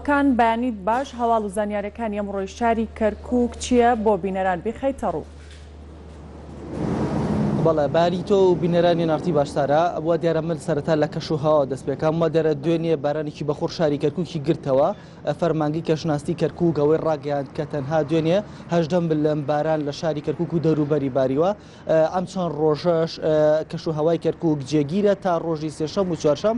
کان بەیانیت باش هەواڵ و زانیارەکانی ئەمڕۆی شاری کەرکوک چیە بۆ بینەران بیخەیتە ڕوو. بەڵێ بەیانی تۆ و بینەرانی نارتی باشتارە وا دیارە من سەرەتا لە کەش و هەوا دەست پێکەم وا دیارە دوێنێ بارانێکی بەخوڕ شاری کەرکوکی گرتەوە فەرمانگەی کەشناستی کەرکوک ئەوەی ڕاگەیاند کە تەنها دوێنێ هەژدە ملم باران لە شاری کەرکوک و دەوروبەری باریوە ئەم چەند ڕۆژەش کەش و هەوای کەرکوک جێگیرە تا ڕۆژی سێشەم و چوارشەم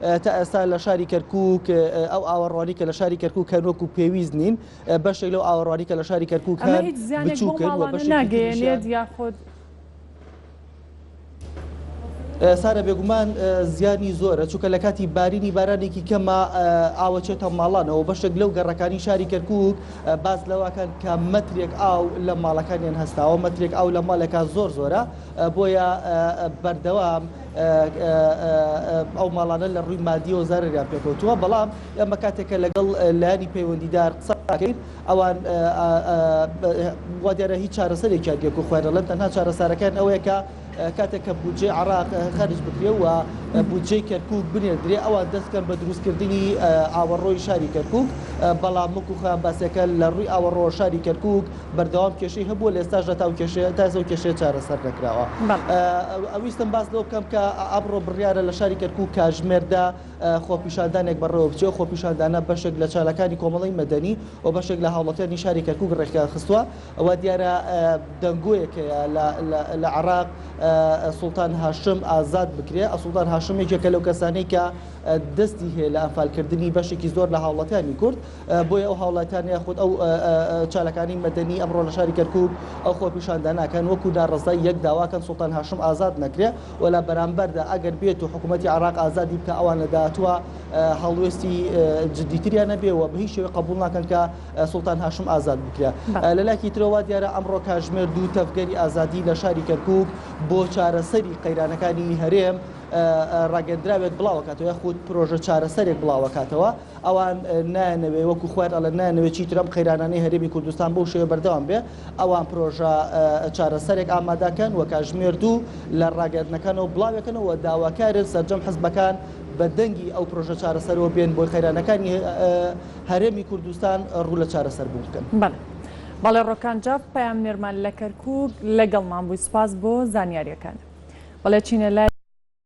تا ئێستا لە شاری کەرکک ئەو ئاوەڕوانی کە لە شاری کەرکک هەن وەکو پێویست نین بەشێک لەو ئاوەڕوانی کە لە شاری کەرکک هەن بچووکەن ناگەێنێت یاخود سارە بێگومان زیانی زۆرە چونکە لە کاتی بارینی بارانێکی کەمە ئاوەچێتە ماڵانەوە بەشێک لەو گەڕەکانی شاری کەرکک باز لەواکەن کە مەترێک ئاو لە ماڵەکانیان هەستاوە مەترێک ئاو لە ماڵێکا زۆر زۆرە بۆیە بەردەوام ئەو ماڵانە لە ڕووی مادیەوە زارەریان پێکەوتووە بەڵام ئەمە کاتێکە لەگەڵ لایانی پەیوەندیدار قسەکەین ئەوان وا دیارە هیچ چارەسەرێکیان یەک و خوێنە لەن تەنها چارەسارەکان ئەوەیە کە کاتێک کە بودجێ عراق خەرج بکرێ و بودجێ کەرکک بنێدرێ ئەوان دەستکەن بە دروستکردنی ئاوەڕۆی شاری کەرکک بەڵام مک و خان باسەکە لە ڕووی ئاوەڕۆ شاری کەرکک بەردەوام کێشەی هەبووە لە ئێستاشدا تا ئەو کێشەیە تا ئێستا ئەو کێشەیە چارەسەر نەکراوە. بەڵێ. ویستم باس لەوە بکەم کە ئەمڕۆ بڕیارە لە شاری کەرکووک کاژمێردا خۆپیشاندانێک بەڕێوە بچێ و خۆپیشاندانە بەشێک لە چالاکانی کۆمەڵی مەدەنی و بەشێک لە هاوڵاتیانی شاری کەرکووک ڕێکیان خستووە و دیارە دەنگۆیەک هەیە لە لە لە عێراق سوڵتان هاشم ئازاد بکرێ. سوڵتان هاشم یەکێکە لەو کەسانەی کە دەستی هەیە لە ئەنفالکردنی بەشێکی زۆر لە هاوڵاتیانی کورد. بۆیە ئەو هاوڵاتیانە یاخود ئەو چالاکانی مەدەنی ئەمڕۆ لە شاری کەرکوک ئەو خۆپیشاندانەکەن وەکو ناڕەزای یەک داواکەن سوڵتان هاشم ئازاد نەکرێ و لە بەرامبەردا ئەگەر بێت و حکوومەتی عراق ئازادی بکە ئەوان لە داهاتووە هەڵوێستی جدیتریان نەبێ و بە هیچ شێوە قبول ناکەن کە سوڵتان هاشم ئازاد بکرێ لەلاکی ترەوە دیارە ئەمڕۆ کاژمێر دوو تەفگەری ئازادی لە شاری کەرکوک بۆ چارەسەری قەیرانەکانی هەرێم ڕاگەندراوێک بڵاوکاتەوە یاخود پرۆژە چارەسەرێک بڵاوکاتەوە ئەوان نایانەوێ وەکو خۆیان ئەڵێن نایانەوێ چیتر ئەم قەیرانانەی هەرێمی کوردستان بەو شێوەیە بەردەوام بێ، ئەوان پرۆژە چارەسەرێک ئامادەکەن و کاتژمێر دوو لە ڕاگەیاندنەکانەوە بڵاوێکەنەوە و داواکارن سەرجەم حزبەکان بە دەنگی ئەو پرۆژە چارەسەرەوە بێن بۆی قەیرانەکانی هەرێمی کوردستان ڕوو لە چارەسەر بوون بکەن. بەڵێ بەڵێ ڕۆکان جاف پەیامنێرمان لە کەرکوک لەگەڵمان بووی سوپاس بۆ زانیاریەکانت بەڵێ چینە لای.